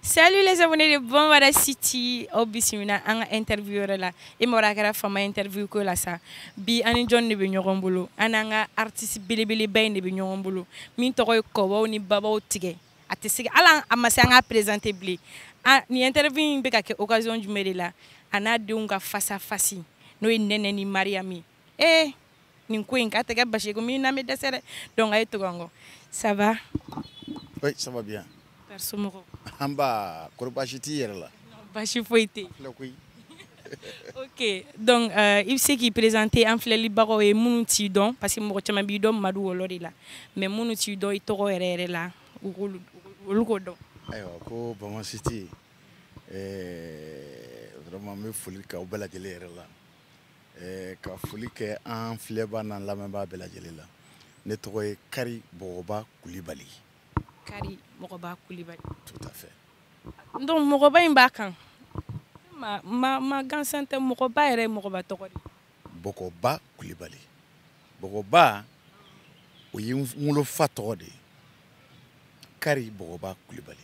Salut les abonnés de Bama City aw bisimila an ka interview yɛrɛ la i mɔgɔ a kɛra fama interview ko la sa bi an ni jɔn de bɛ ɲɔgɔn bolo an n'an ka artiste belebeleba in de bɛ ɲɔgɔn bolo min tɔgɔ ye kɔbaw ni babaw tigɛ a tɛ sigi hali a ma se an k'a présenter bilen nin interview in bɛ ka kɛ occasion jumɛn de la a n'a denw ka face à face n'o ye Nɛnɛ ni Mariyamu ye ee nin ko in k'a tɛ kɛ basi ye ko min na bɛ dɛsɛ dɛ donc a ye tugu an kɔ ça va oui ça va bien père somɔgɔw nba kɔrɔ basi t'i yɛrɛ la basi foyi tɛ yen koyi ok donc euh, i bɛ se k'i présenter an filɛlibagaw ye minnu t'i dɔn parce que mɔgɔ caman b'i dɔn madu wɔlɔ de la mais minnu t'i dɔn i tɔgɔ yɛrɛ yɛrɛ la u k'olu olu k'o dɔn ayiwa ko Bama City eh, vraiment n bɛ foli k'aw bɛɛ lajɛlen yɛrɛ la Eh, ka foli kɛ an filɛbaa n'an lamɛnbaa bɛɛ lajɛlen la ne tɔgɔ ye kari bɔgɔba kulibali kari mɔgɔba kulibali tout à fait donc mɔgɔba in b'a kan ma ma ma gansan tɛ mɔgɔba yɛrɛ ye mɔgɔba tɔgɔ de bɔgɔba kulibali bɔgɔba o ye n wolofa tɔgɔ de ye kari bɔgɔba kulibali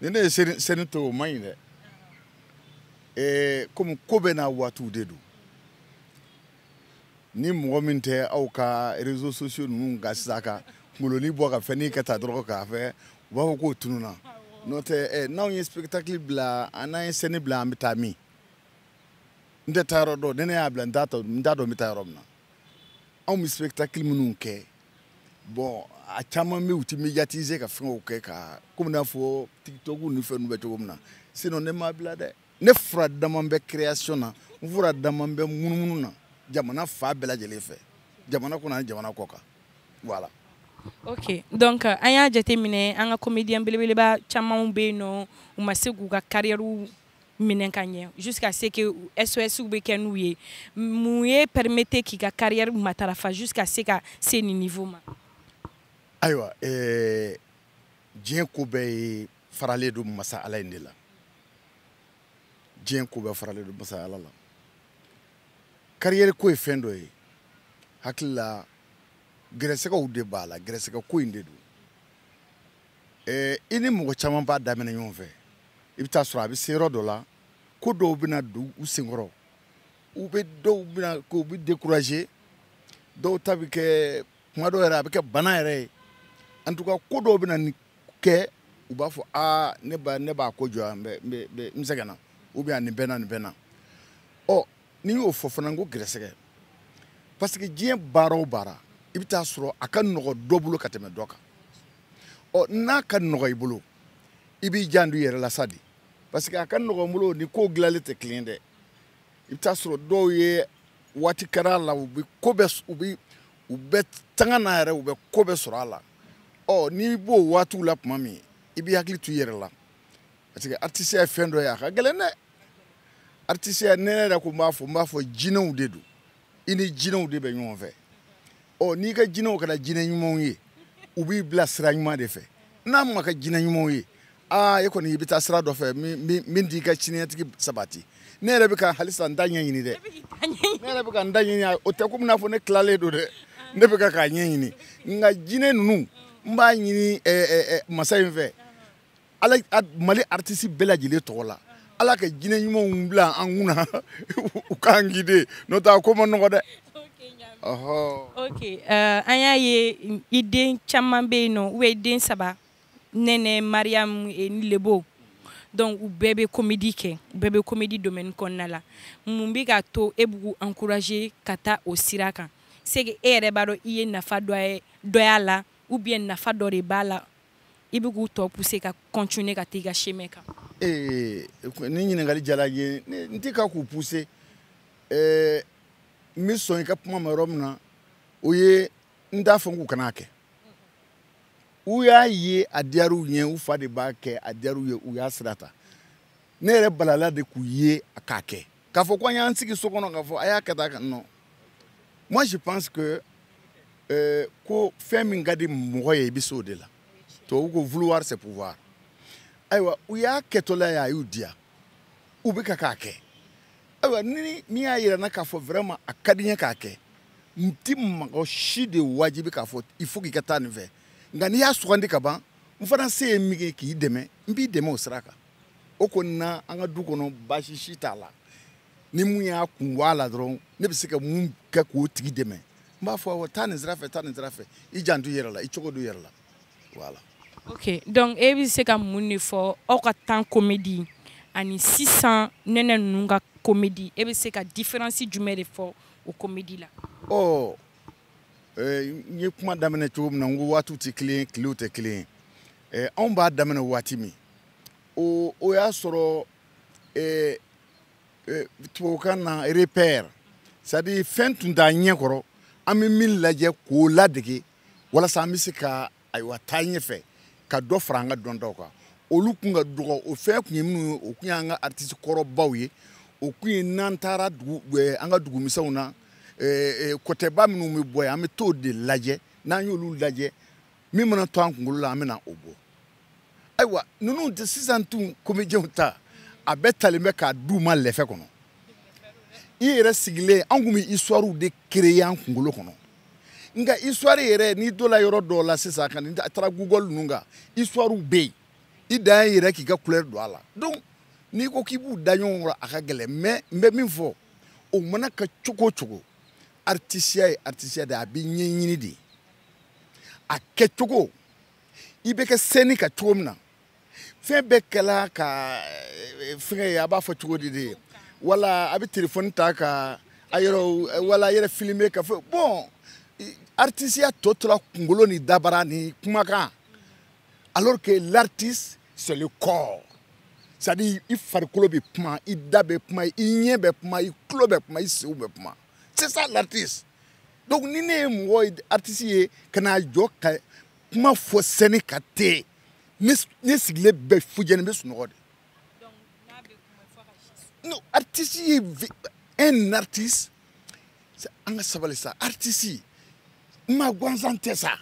ni ne ye scène to o man ɲi dɛ ee komi ko bɛɛ n'a waatiw de don ni mɔgɔ min tɛ aw ka réseaux sociaux ninnu kan sisan ka kungolonin bɔ ka fɛnnin kɛ ta dɔrɔn k'a fɛ u b'a fɔ k'o tununna n'o tɛ n'anw ye spectacle bila an n'an ye scène bila an bɛ taa min n tɛ taa yɔrɔ dɔn ni ne y'a bila n t'a dɔn n bɛ taa yɔrɔ min na anw bɛ spectacle minnu kɛ bon a caman bɛ u tɛ médiatiser ka fɛnw kɛ ka komi n'a fɔ tiktok ni fɛn ninnu bɛ cogo min na sinon ne m'a bila dɛ ne fura dama bɛ création na n fura dama bɛ munumunu na jamana fan bɛɛ lajɛlen fɛ jamana kɔnɔ ani jamana kɔkan voilà ok donc euh, an y'a jateminɛ an ka comédien belebeleba camanw bɛ yen nɔ u ma se k'u ka carrière minɛ ka ɲɛ jusqu'à ce que SOS bɛ kɛ n'u ye mun y'i permettre k'i ka carrière matarafa jusqu'à ce ka se nin niveau ma ayiwa eh, diɲɛ ko bɛɛ ye faralen don masa ala in de la diɲɛ ko bɛɛ faralen don masa ala la carrière ko ye fɛn dɔ ye hakili la gɛrɛsɛgɛw de b'a la gɛrɛsɛgɛ ko in de don eh, i ni mɔgɔ caman b'a daminɛ ɲɔgɔn fɛ i bɛ taa sɔrɔ a bɛ se yɔrɔ dɔ la ko dɔw bɛna don u senkɔrɔ u bɛ dɔw bɛna k'u bɛ décourager dɔw ta bɛ kɛ kuma dɔw yɛrɛ a bɛ kɛ bana yɛrɛ ye en tout cas ko dɔw bɛna nin kɛ u b'a fɔ aa ne ba ne b'a ko jɔ yan n bɛ n bɛ n bɛ n sɛgɛnna ou bien nin bɛ na nin bɛ na ɔ n'i y'o fɔ fana ko gɛrɛsɛgɛ parce que diɲɛ baara o baara i bɛ taa sɔrɔ a ka nɔgɔ dɔ bolo ka tɛmɛ dɔ kan ɔ n'a ka nɔgɔ i bolo i b'i janto i yɛrɛ la sa de parce que a ka nɔgɔ n bolo ni ko dilanlen tɛ kelen dɛ i bɛ taa sɔrɔ dɔw ye waati kɛra a la u bɛ ko bɛɛ u bɛ u bɛ tanga na yɛrɛ u bɛ ko bɛɛ sɔrɔ a la ɔ n'i b'o waatiw la tuma min i b'i hakili to i yɛrɛ la parce que artiste ye fɛn dɔ ye a ka gɛlɛn dɛ artiste ne yɛrɛ ko n b'a fɔ n b'a fɔ jinɛw de don i ni jinɛw de bɛ ɲɔgɔn fɛ ɔ n'i ka jinɛw kɛra jinɛ ɲumanw ye u b'i bila sira ɲuman de fɛ n'a ma kɛ jinɛ ɲumanw ye aa e kɔni i bɛ taa sira dɔ fɛ min t'i ka siniɲɛsigi sabati ne yɛrɛ bɛ ka halisa n ta ɲɛɲini dɛ ne yɛrɛ bɛ ka n ta ɲɛɲini o tɛ komi n'a fɔ ne tilalen don dɛ ne bɛ ka k'a ɲɛɲini nka jinɛ ninnu n b'a ɲini masa in fɛ ala mali artiste bɛɛ lajɛlen tɔgɔ la ala ka jinɛ ɲumanw bila an kunna u k'an guider n'o tɛ a ko ma nɔgɔ dɛ ok uh, an y'a ye i den caman bɛ yen nɔ u bɛ den saba nɛnɛ mariyamu eh, ni lebo donc u bɛɛ bɛ komedi kɛ u bɛɛ bɛ komedi domaine kɔnɔna la mun bɛ k'a to e b'u encourager ka taa o sira kan c'est que e yɛrɛ b'a dɔn i ye nafa dɔ y'a la ou bien nafa dɔ de b'a la i bɛ k'u tɔ pousser ka continuer ka taa i ka chemin kan. Ee ni ɲininkali diyara n ye n tɛ ka k'u pousser ɛɛ eh, n bɛ sɔn i ka kuma ma yɔrɔ min na o ye n t'a fɔ k'u kan'a kɛ u y'a ye a diyara u ye u fa de b'a kɛ a diyara u ye u y'a sira ta ne yɛrɛ balala de k'u ye k'a kɛ k'a fɔ ko an y'an sigi so kɔnɔ k'a fɔ a y'a kɛ tan ka non moi je pense que euh, ko fɛn min ka di mɔgɔ ye i bɛ se o de la tubabu ko vouloir c'est pouvoir ayiwa u y'a kɛtɔla ye a y'u diya u bɛ ka k'a kɛ ayiwa ni min y'a yira n na k'a fɔ vraiment a ka di n ye k'a kɛ n ti mɔgɔ si de wajibi k'a fɔ il faut k'i ka taa nin fɛ nka n'i y'a sugandi ka ban n fana se ye min ye k'i dɛmɛ n b'i dɛmɛ o sira kan o kɔni na an ka du kɔnɔ baasi si t'a la ni mun y'a kun bɔ a la dɔrɔn ne bɛ se ka mun kɛ k'o tigi dɛmɛ n b'a fɔ awɔ taa nin sira fɛ taa nin sira fɛ i janto i yɛrɛ la i cogo don i yɛrɛ la voilà. ok donc e bɛ se ka mun de fɔ aw ka temps komedi ani sisan nɛnɛ ninnu ka komedi e bɛ se ka différence jumɛn de fɔ o komedi la. ɔ oh, eh, n ye kuma daminɛ cogo min na n ko waatiw tɛ kelen ye tilew tɛ kelen ye eh, anw b'a daminɛ waati min o o y'a sɔrɔ eh, euh, tubabukan na repère c'est à dire fɛn tun t'an ɲɛ kɔrɔ an bɛ min lajɛ k'o ladege walasa an bɛ se ka ayiwa taa ɲɛfɛ ka dɔ fara an ka dɔntaw kan olu kun ka dɔgɔ o fɛn kun ye minnu ye o kun y'an ka artiste kɔrɔbaw ye o kun ye n'an taara dugu eh, an ka dugumisɛnw na eh, eh, kɔtɛba minnu bɛ bɔ yen an bɛ t'o de lajɛ n'an y'olu lajɛ min mana to an kunkolo la an bɛna o bɔ ayiwa ninnu tɛ sisan tun comédienw ta a bɛɛ talen bɛ k'a d'u ma lɛfɛ kɔnɔ i yɛrɛ sigilen an kun bɛ histoirew de créer an kunkolo kɔnɔ nka histoire yɛrɛ n'i donna yɔrɔ dɔw la sisan ka n'i taara google ninnu kan histoirew bɛ yen i dan ye yɛrɛ k'i ka kulɛri don a la donc n'i ko k'i b'u da ɲɔgɔn kɔrɔ a ka gɛlɛn mais n bɛ min fɔ o mana kɛ cogo o cogo aritisiya ye aritisiya de ye a bɛ ɲɛɲini de a kɛcogo i bɛ kɛ scène kan cogo min na fɛn bɛɛ kɛla ka eh, fɛngɛ ye a b'a fɔ cogo di de wala a bɛ telefɔni ta ka a yɛrɛ eh, wala a yɛrɛ filime ka fɔ bon artisiya tɔ tora kunkolo ni dabara ni kumakan alors que l'artiste c'est le corps c'est à dire i farikolo bɛ kuma i da bɛ kuma i ɲɛ bɛ kuma i tulo bɛ kuma i senw bɛ kuma c'est ça l'artiste donc ni ne ye mɔgɔ artiste ye ka n'a jɔ ka kuma fɔ scène kan ten ne sigilen bɛ fujɛni bɛ sunɔgɔ de non artiste ye un artiste an ka sabali sa artiste maa gansan tɛ sa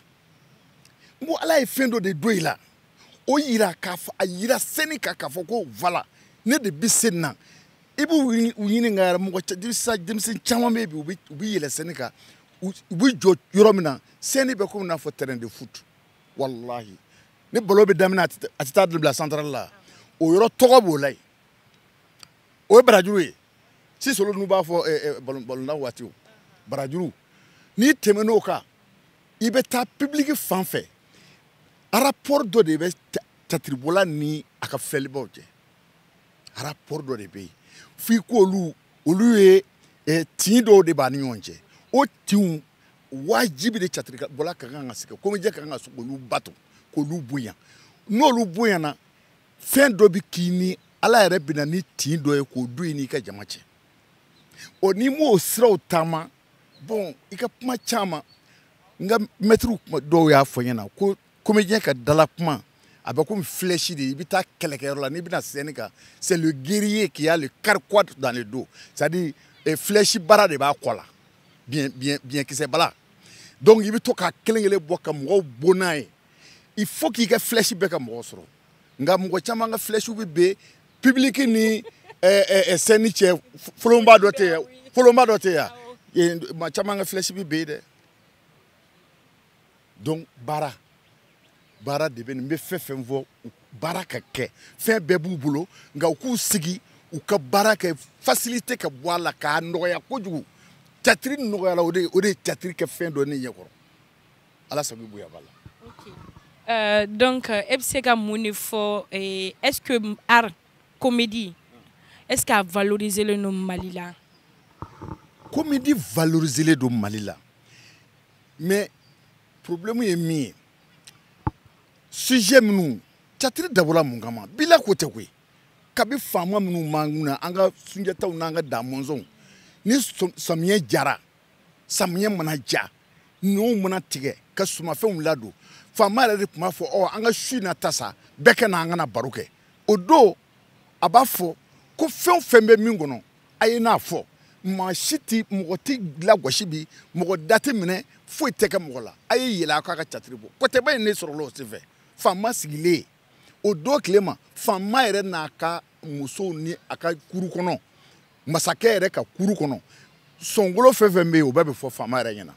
n ko ala ye fɛn dɔ de don i la o yira k'a fɔ a yira scène kan k'a fɔ ko voilà ne de bɛ scène na i b'u ɲininka yɛrɛ mɔgɔ sisan denmisɛnnin caman bɛ yen bi u bɛ yɛlɛ scène kan u bɛ jɔ yɔrɔ min na scène bɛ komi n'a fɔ terrain de foot walahi ni balɔn bɛ daminɛ a tɛ taa bila central la o yɔrɔ tɔgɔ b'o la yen o ye barajuru ye sisan olu ninnu b'a fɔ eh, eh, balɔntan waati o barajuru n'i tɛmɛn'o kan i bɛ taa public fan fɛ rapport dɔ de bɛ catiribɔla ni a ka filɛlibaw cɛ rapport dɔ de bɛ yen f'i k'olu olu ye eh, tin dɔw de b'a ni ɲɔgɔn cɛ o tinw wajibi de catiribɔla ka kan ka sigi comédien ka kan ka se k'olu bato k'olu bonya n'olu bonyana fɛn dɔ bɛ k'i ni ala yɛrɛ bɛna ni tin dɔ ye k'o don i n'i ka jama cɛ ɔ n'i m'o siraw taama bon i ka kuma caman n ka mɛtiriw dɔw y'a fɔ n ɲɛna ko comédien ka dala kuma a bɛ komi flèche de i bɛ taa kɛlɛkɛyɔrɔ la n'i bɛna scène kan c'est le guerrier qui a le carquois dans le dos c'est à dire eh, flèche bara de b'a kɔ la biɲɛ biɲɛ biɲɛkisɛ b'a la donc i bɛ to k'a kelen kelen bɔ ka mɔgɔw bon n'a ye il faut k'i ka flèche bɛɛ ka mɔgɔ sɔrɔ nka mɔgɔ caman ka flèche bɛ bin public ni eh, eh, eh, scène cɛ folonba dɔ tɛ yen folonba dɔ tɛ yen maa caman ka flèche bɛ bin dɛ donc baara baara de bɛ nin n bɛ fɛn fɛn fɔ baara ka kɛ fɛn bɛɛ b'u bolo nka u k'u sigi u ka baara kɛ facilité ka bɔ a la k'a nɔgɔya kojugu catiri nɔgɔyala o de o de ye catiri kɛ fɛn dɔ ne ɲɛkɔrɔ ala sago i bonya b'a la. Okay. Euh, donc euh, e bɛ se ka mun de fɔ eh, est ce que art comédie est ce que a valoriser len don mali la. comédie valoriser len don mali la. mais problème ye min ye sujet minnu catiri dabɔla mun kama bi la ko tɛ koyi kabi faama minnu b'an kun na an ka sunjataw n'an ka damɔnzɔnw ni samiyɛ jara samiyɛ mana ja ɲɔw mana tigɛ ka sumafɛnw ladon faama yɛrɛ de tun b'a fɔ ɔ an ka su na ta sa bɛɛ ka na an ka na baro kɛ o don a b'a fɔ ko fɛn o fɛn bɛ min kɔnɔ a ye n'a fɔ maa si tɛ mɔgɔ tɛ lagosi bi mɔgɔ da tɛ minɛ foyi tɛ kɛ mɔgɔ la a ye yɛlɛ a k'a ka catiri bɔ kɔtɛba in ne sɔrɔla o senfɛ faama sigilen o don tile ma faama yɛrɛ n'a ka musow ni a ka kuru kɔnɔ masakɛ yɛrɛ ka kuru kɔnɔ sɔnkolo fɛn fɛn bɛ yen o bɛɛ bɛ fɔ faama yɛrɛ ɲɛna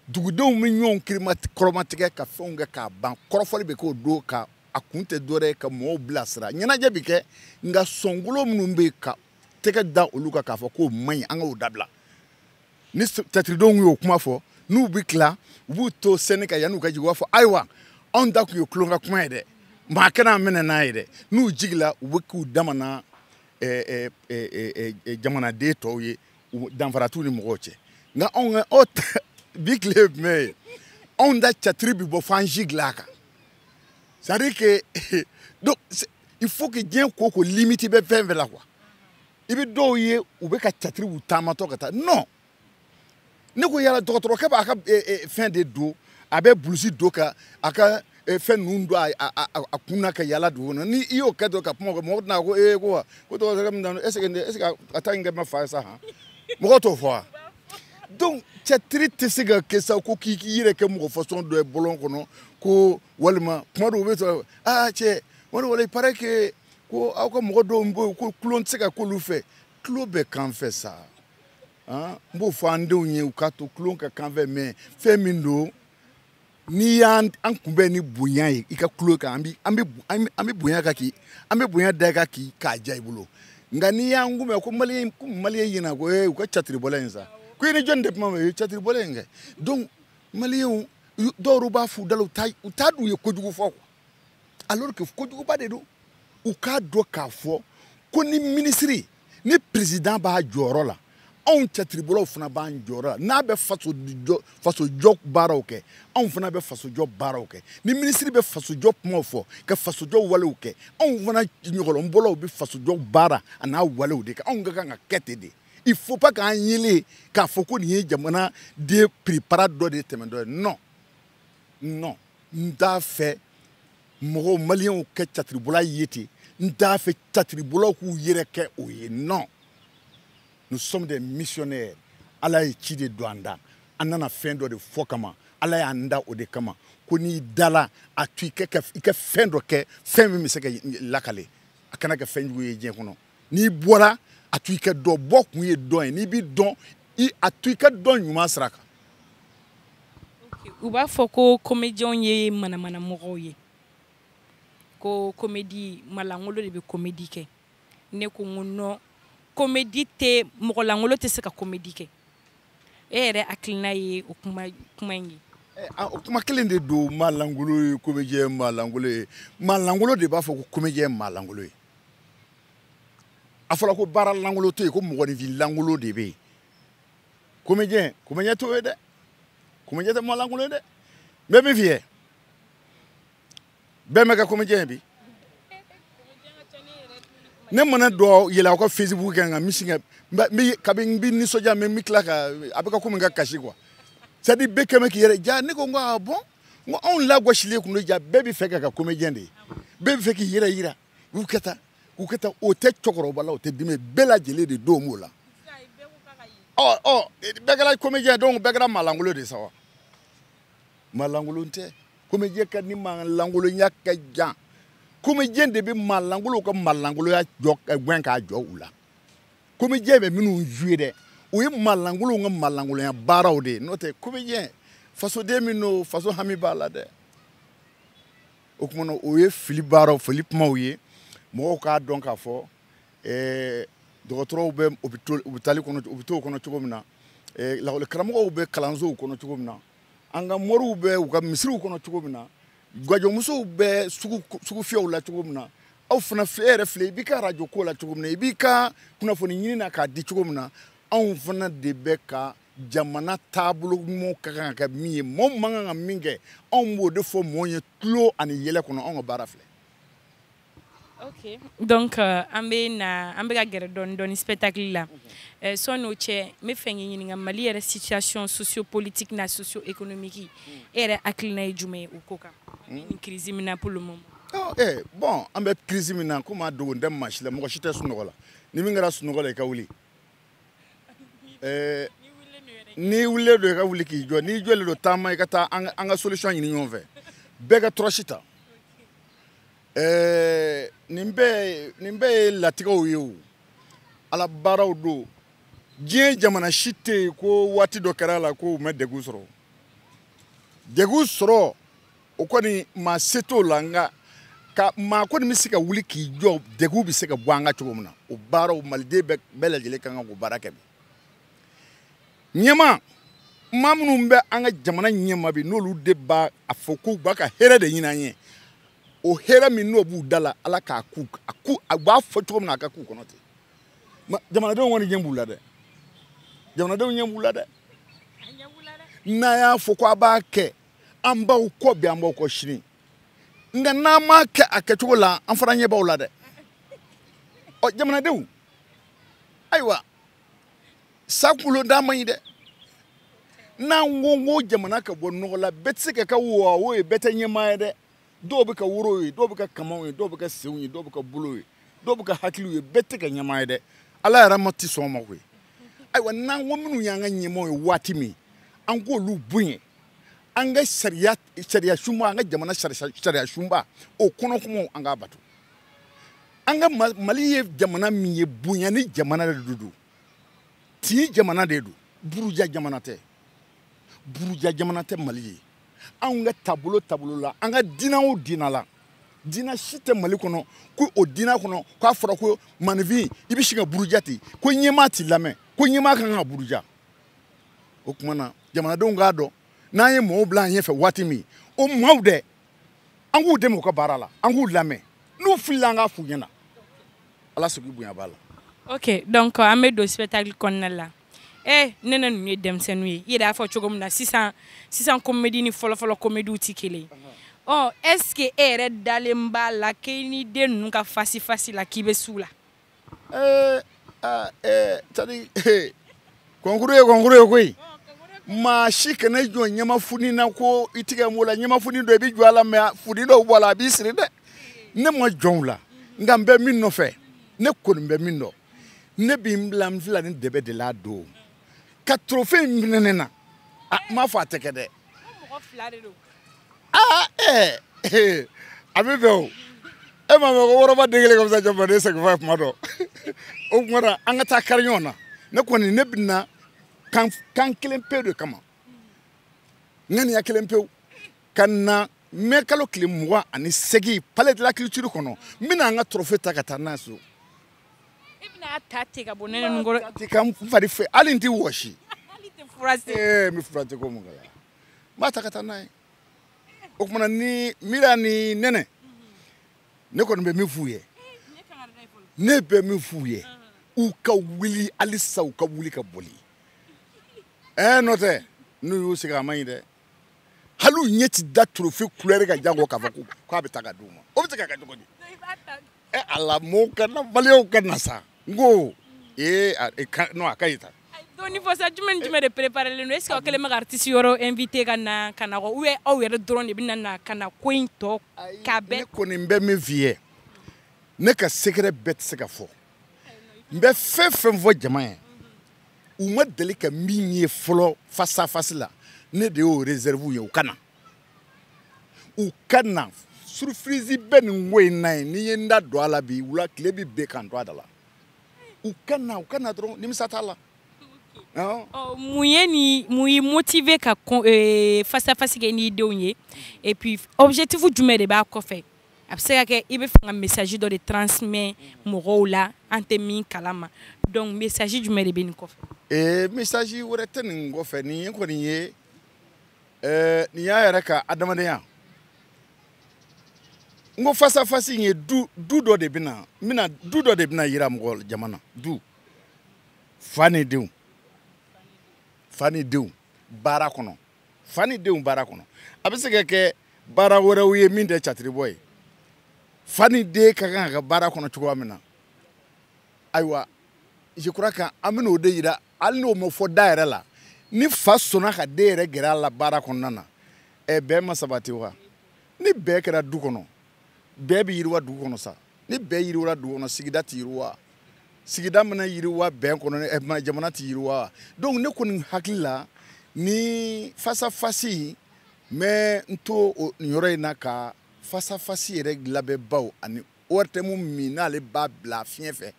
dugudenw bɛ ɲɔgɔn kɔrɔmatigɛ ka fɛnw kɛ k'a ban kɔrɔfɔli bɛ k'o don ka a kun tɛ dɔwɛrɛ ye ka mɔgɔw bilasira ɲɛnajɛ bɛ kɛ nka sɔnkolo minnu bɛ yen ka tɛgɛ da olu kan k'a fɔ k'o man ɲi an k'o dabila ni catiridenw y'o kuma fɔ n'u bɛ tila u b'u to scène kan yanni u ka jigin u b'a fɔ ayiwa anw ta tun ye tulon ka kuma ye dɛ maa kana an minɛ n'a ye dɛ n'u jigila u bɛ k'u damana jamanaden tɔw ye danfara t'u ni mɔgɔw cɛ nka anw ka bi tile ye jumɛn ye anw da catiri bɛ bɔ fo an si dilan a kan c'est à dire que donc il faut que diɲɛ ko ko limite bɛ fɛn fɛn la quoi i bɛ dɔw ye u bɛ ka catiri bɔ u taamatɔ ka taa non ne ko yala dɔgɔtɔrɔkɛ b'a ka fɛn de don a bɛ bulusi don ka a ka fɛn ninnu don a kun na ka yala dugu kɔnɔ ni i y'o kɛ dɔrɔn ka kuma kɛ mɔgɔ tɛna ko ee ko wa ko dɔgɔtɔrɔkɛ min na est ce que est ce que a ta in kɛ ma fa ye sa han mɔgɔ t'o fɔ wa. donc cɛtiri tɛ se ka kɛ sa ko k'i yɛrɛ kɛ mɔgɔ fasɔn dɔ ye bɔlɔn kɔnɔ ko walima kuma dɔw bɛ sɔrɔ aa cɛ wali wala il paraît que ko aw ka mɔgɔ dɔw bɛ yen ko tulon tɛ se ka k'olu fɛ tulon bɛ k'an fɛ sa n b'o fɔ an denw ye u k'a to tulon ka k'an fɛ mais fɛn min don n'i y'an an kunbɛn ni bonya ye i ka tulo kan an bi an bi an bi bonya ka k'i an bi bonya da ka k'i k'a diya i bolo nka n'i y'an kunbɛn ko maliyɛn ko maliyɛn ɲɛna ko ee u ka catiribɔla in sa ko i ni jɔni de kuma ma ye catiribɔla in kɛ donc maliyɛnw dɔw b'a f'u da la u t'a u t'a dɔn u ye kojugu fɔ quoi alors que kojuguba de don u k'a dɔn k'a fɔ ko ni minisiri ni perezidan b'a jɔyɔrɔ la anw catiribɔlaw fana b'an jɔyɔrɔ la n'a bɛ fasojɔ fasojɔ baaraw kɛ anw fana bɛ fasojɔ baaraw kɛ ni minisiri bɛ fasojɔ kumaw fɔ ka fasojɔ walew kɛ anw fana ɲɔgɔlɔnbɔlaw bɛ fasojɔ baara an'a walew de kɛ anw ka kan ka kɛ ten de il faut pas k'an yele k'a fɔ ko nin ye jamanaden prépara dɔ de tɛmɛntɔ ye non non n t'a fɛ mɔgɔw maliyɛnw ka catiribɔla ye ten n t'a fɛ catiribɔlaw k'u yɛrɛ kɛ o ye non nous sommes des missionnaires ala ye ci de don an da an nana fɛn dɔ de fɔ kama ala y'an da o de kama ko n'i dala a to i ka fɛn dɔ kɛ fɛn min bɛ se ka lakale a kana kɛ fɛn jugu ye diɲɛ kɔnɔ n'i bɔra a to i ka dɔn bɔkun ye dɔn ye n'i bɛ dɔn a to i ka dɔn ɲuman sira kan. u b'a fɔ ko komediyɛnw ye manamana mɔgɔw ye ko komedi maa langolo de bɛ komedi kɛ ne ko n ko non komedi tɛ mɔgɔ langolo tɛ se ka komedi kɛ e yɛrɛ hakilina ye o kuma kuma in ye. Eh, ah, o kuma kelen de don maa langolo ye komediyɛn maa langolo ye maa langolo de b'a fɔ ko komediyɛn maa langolo ye. a fɔra ko baara lankolon tɛ yen ko mɔgɔninfin lankolon de bɛ yen komediyɛn komediyɛn t'o ye dɛ komediyɛn tɛ mɔgɔ lankolon ye dɛ n bɛ min f'i ye bɛɛ ma kɛ komediyɛn ye bi ne mana dɔ yɛlɛn aw ka facebook kan nka misi kɛ kabi n bɛ nisɔndiya mais n bɛ tila ka a bɛ kɛ komi n ka kasi quoi c'est à dire bɛɛ kɛ mɛ k'i yɛrɛ ja ne ko n ko ah bon n ko anw lagosilen tun don jaa bɛɛ bɛ fɛ ka kɛ komediyɛn de ye bɛɛ bɛ fɛ k'i yɛrɛ yira u ka taa u ka taa o tɛ cɛkɔrɔba la o tɛ denmisɛn bɛɛ lajɛlen de don b'o la ɔ ɔ bɛɛ kɛra komediyɛn donc bɛɛ kɛra maalankolon de sa wa maalankolon tɛ komediyɛn ka ni maalankolonya ka jan komediyɛn de bɛ maalankolow ka maalankoloya jɔ gɛn k'a jɔ u la komediyɛn bɛ minnu jouer dɛ o ye malankolonw ka malankolonya baaraw de ye n'o tɛ komediyɛn fasoden min don faso hami b'a la dɛ o tuma na o ye fili baaraw fili kumaw ye mɔgɔw k'a dɔn k'a fɔ eh, dɔgɔtɔrɔw bɛ hôpitaux hôpital kɔnɔ hôpitaux kɔnɔ cogo min na eh, lakɔlikaramɔgɔw bɛ kalansow kɔnɔ cogo min na an ka moriw bɛ u ka misiriw kɔnɔ cogo min na gajɔmusow bɛ sugufiyɛw la cogo min na aw fana e yɛrɛ filɛ i b'i ka arajo ko la cogo min na i b'i ka kunnafoni ɲini na k'a di cogo min na anw fana de bɛ ka jamana taabolo ɲumanw ka kan ka kɛ min ye mɔɔ man kan ka min kɛ anw b'o de fɔ mɔɔ ye tulon ani yɛlɛ kɔnɔ anw ka baara filɛ ok donc euh, an bɛ na an bɛ ka gɛrɛ dɔɔni dɔɔni spectacle la euh, sani o cɛ n bɛ fɛ k'i ɲininka mali yɛrɛ situation sociopolitique na socio-économique e yɛrɛ hakilina ye jumɛn ye o ko kan hmm. nin crise min na pour le moment oh, eh, bon an bɛ crise min na komi a dogolen tɛ maa si la mɔgɔ si tɛ sunɔgɔ la ni min kɛra sunɔgɔ la i ka wuli eh, n'i wulilen don i ka wuli k'i jɔ n'i jɔlen don taama i ka taa an ka solution ɲini ɲɔgɔn fɛ bɛɛ ka tɔrɔsi ta ɛɛ nin bɛɛ nin bɛɛ ye latigɛw ye o ala baaraw don diɲɛ jamana si tɛ yen ko waati dɔ kɛra a la ko u ma degun sɔrɔ degun sɔrɔ o kɔni maa se t'o la nka ka maa kɔni bɛ se ka wuli k'i jɔ degun bɛ se ka bɔ an kan cogo min na o baaraw maliden bɛɛ lajɛlen ka kan k'o baara kɛ bi ɲɛma maa minnu bɛ an ka jamana ɲɛma bi n'olu de b'a a fɔ k'u b'an ka hɛrɛ de ɲini an ye o hɛrɛ min n'o b'u da la ala k'a k'u a k'u a b'a fɔ cogo min na a ka k'u kɔnɔ ten jamanadenw kɔni ɲɛ b'u la dɛ jamanadenw ɲɛ b'u la dɛ n'a y'a fɔ ko a b'a kɛ an b'aw kɔ bi an b'aw kɔ sini nka n'a m'a kɛ a kɛcogo la an fana ɲɛ b'aw la dɛ ɔ jamanadenw ayiwa sa kunkolo da man ɲi dɛ n'an ko ko jamana ka bɔ nɔgɔ la bɛɛ tɛ se ka kɛ wawo ye bɛɛ tɛ ɲɛmaa ye dɛ dɔw bɛ kɛ woro ye dɔw bɛ kɛ kamanw ye dɔw bɛ kɛ senw ye dɔw bɛ kɛ bolo ye dɔw bɛ kɛ hakiliw ye bɛɛ tɛ kɛ ɲɛmaa ye dɛ ala yɛrɛ ma tɛ sɔn o ma koyi ayiwa n'an ko minnu y'an ka ɲɛmaaw ye waati min an k'olu bonya an ka sariya sariya sunba an ka jamana sariya sunba o kɔnɔ kumaw an k'a bato an ka mali ye jamana min ye bonya ni jamana de don tin jamana de don buruja jamana tɛ buruja jamana tɛ mali ye anw ka taabolo taabolo la an ka diinɛ o diinɛ la diinɛ si tɛ mali kɔnɔ ko o diinɛ kɔnɔ k'a fɔra ko maaninfin i bɛ sin k'a buruja ten ko ɲɛmaa t'i lamɛn ko ɲɛmaa ka kan ka buruja o tuma na jamanadenw k'a dɔn n'an ye mɔgɔw bila an ɲɛfɛ waati min o maaw dɛ an k'u dɛmɛ u ka baara la an k'u lamɛn n'u filila an k'a f'u ɲɛna ala sigi bonya b'a la ok donc an bɛ don spectacle kɔnɔna la eh ne na ninnu ye denmisɛnninw ye i yɛrɛ y'a fɔ cogo min na sisan sisan komedi ni fɔlɔfɔlɔ komediw tɛ kelen ɔ est ce que e yɛrɛ dalen b'a la k'i ni den ninnu ka fasifasi la k'i bɛ s'u la kɔnkuru ye kɔnkuru ye koyi maa si kana jɔn ɲama funi na ko i tigɛ m'o la ɲama funi dɔ i bɛ jɔn a la mais funi dɔ bɛ bɔ a la a b'i siri dɛ ne ma jɔn u la nka n bɛ min nɔfɛ ne kɔni bɛ min dɔn ne bɛ n bila n fila ni dɛbɛ de la a don ka trophée in minɛ ne na a n m'a fɔ a tɛ kɛ dɛ. aa ɛɛ eh, a bɛ bɛn o e m'a mɛn ko waraba den kelen ka fisa jakumaden segi fa ye kuma dɔ o kuma na an ka taa kari ɲɔgɔn na ne kɔni ne bɛ na kan kan kelen pe de kama ŋaniya kelen pewu ka na mɛ kalo tile mugan ani segin palais de la culture kɔnɔ n bɛna an ka trophée ta ka taa n'a ye so. e bɛna ta ten ka bɔ den ninnu kɔrɔ. ka n fari fɛ hali n tɛ wɔsi. hali tɛ forcer. ee n bɛ forcer ko mun kɛra. n b'a ta ka taa n'a ye o tumana ni mira ni nɛnɛ ne kɔni bɛ min f'u ye ne bɛ min f'u ye u ka wuli halisa u ka wuli ka boli ɛɛ eh, n'o tɛ n'u y'u sigi a man ɲi dɛ hali u ɲɛ ti da trophée couleur kan janko k'a fɔ k'a bɛ taa ka d'u ma o bɛ se ka kɛ cogo di ɛ eh, ala mɔɔw ka na maliyɛnw ka na sa n ko ee a e ka non a ka ɲi tan donc ni fɔsa jumɛn ni jumɛn de préparelen don est ce que aw kɛlen bɛ ka artiste wɛrɛ invité ka na ka na kɔ ou bien aw yɛrɛ dɔrɔn de bɛna na ka na ko in tɔ ka bɛɛ ne kɔni n bɛ min f'i ye ne ka secret bɛɛ tɛ se ka fɔ n bɛ fɛn fɛn fɔ jama ye u ma deli ka min ye fɔlɔ face à face la ne de y'o réserve ye u ka na u ka na surprise bɛ nin ko in na ye ni n ye n da don a la bi wula tile bɛ bin k'an to a da la u ka na u ka na dɔrɔn nimisa t'a la. Oh, mun ye ni mun y'i motiver ka eh, face à face kɛ n'i denw ye et puis objectif jumɛn de b'a kɔfɛ a bɛ se ka kɛ i bɛ fɛ ka message dɔ de transmet mɔgɔw la an tɛ min kalama donc message jumɛn de bɛ nin kɔfɛ. Eh, message wɛrɛ tɛ nin kɔfɛ nin ye kɔni ye. ɛɛ nin y'a yɛrɛ ka adamadenya n ko face à face in ye du du dɔ de bɛna mina du dɔ de bɛna yira mɔgɔ jama na du fa ni denw fa ni denw baara kɔnɔ fa ni denw baara kɔnɔ a bɛ se ka kɛ baara wɛrɛw ye min tɛ catiribɔ ye fa ni den ka kan ka kɛ baara kɔnɔ cogoya min na ayiwa je crois que an bɛna o de yira hali n'o ma fɔ da yɛrɛ la ni fa sɔnna ka den yɛrɛ gɛrɛ a la baara kɔnɔna na ɛ bɛn ma sabati wa ni bɛn kɛra du kɔnɔ bɛn bɛ yiriwa dugu kɔnɔ sa ni bɛn yiriwara dugu kɔnɔ sigida tɛ yiriwa sigida mana yiriwa bɛn kɔnɔ ɛ jamana tɛ yiriwa donc ne kɔni hakili la ni fasafasi n bɛ n to o yɔrɔ in na ka fasafasi yɛrɛ labɛnbaw ani ORTM min n'ale b'a bila fiɲɛ fɛ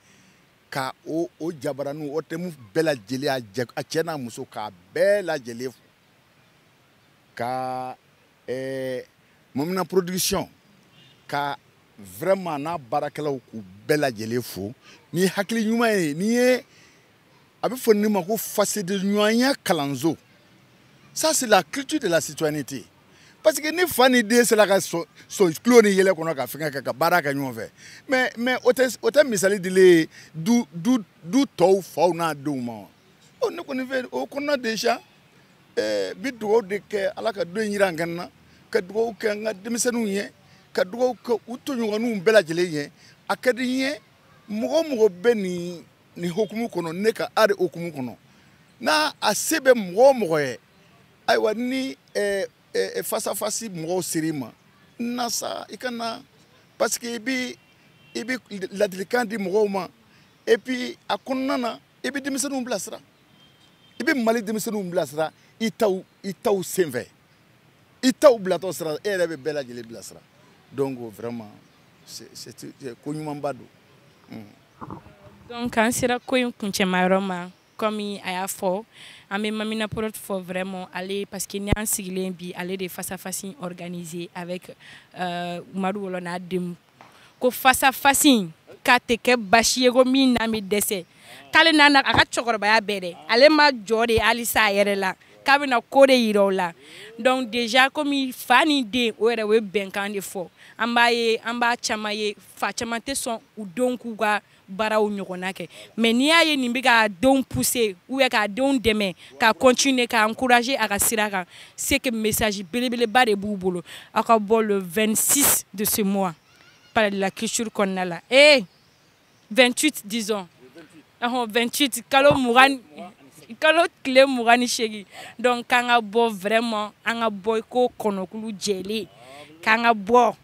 ka o o jabaraniw ORTM bɛɛ lajɛlen a jɛ a cɛ n'a muso k'a bɛɛ lajɛlen fo ka ɛɛ mamina production ka vraiment n'a baarakɛlaw k'u bɛɛ lajɛlen fo ni hakili ɲuman ye nin ye a bɛ fɔ nin ma ko fasodenɲɔgɔnya kalanso ça c'est la culture de la citoyenneté parce que ni fa ni den sera ka sɔn tulon ni yɛlɛ kɔnɔ ka fɛngɛ kɛ ka baara kɛ ɲɔgɔn fɛ mais mais o tɛ o tɛ misali dilen ye du du du tɔw faw n'a denw ma wa ɔ ne kɔni fɛ o kɔnɔna déjà ɛɛ n bi dugawu de kɛ ala ka don in jira an kɛnɛ na ka dugawu kɛ n ka denmisɛnninw ye ka dugawu kɛ u tɔɲɔgɔnninw bɛɛ lajɛlen ye a ka di n ye mɔgɔ o mɔgɔ bɛ nin nin hukumu kɔnɔ ne ka art hukumu kɔnɔ n'a a se bɛ mɔgɔ o mɔgɔ ye ayiwa ni eh, eh, eh, fasafasi mɔgɔw ser'i ma na sa i ka na parce que i bi i bi ladilikan di mɔgɔw ma et puis a kɔnɔna na i bi denmisɛnninw bilasira i bi mali denmisɛnninw bilasira i taw i taw senfɛ i taw bilatɔ sira e yɛrɛ bɛ bɛɛ lajɛlen bilasira donc vraiment ko ɲumanba don donc an sera ko in kuncɛmayɔrɔ ma kɔmi a y'a fɔ an bɛ mamina prod fo vraiment ale parce que ni an sigilen bi ale de face à face in organiser avec euh, Madu Wolo n'a denw ko face à face in k'a tɛ kɛ basi ye ko min n'an bɛ dɛsɛ k'ale n'a na a ka cɛkɔrɔbaya bɛɛ dɛ ale ma jɔ de halisa a yɛrɛ la k'a bɛna ko de yira o la donc déjà komi fa ni den o yɛrɛ o ye bɛnkan de fɔ an b'a ye an b'a caman ye fa caman tɛ sɔn u denw k'u ka baaraw ɲɔgɔnna kɛ mais n'i y'a ye nin bɛ k'a denw pousser ou bien k'a denw dɛmɛ ka continuer ka encourager a ka sira kan c'est que message belebeleba de b'u bolo aw ka bɔ le 26 de ce mois palais de la culture kɔnɔna la ee 28 disons ɔhɔn 28 kalo mugan kalo tile mugan ni seegin donc k'an ka bɔ vraiment an ka bɔ i ko kɔnɔkulu jɛlen k'an ka bɔ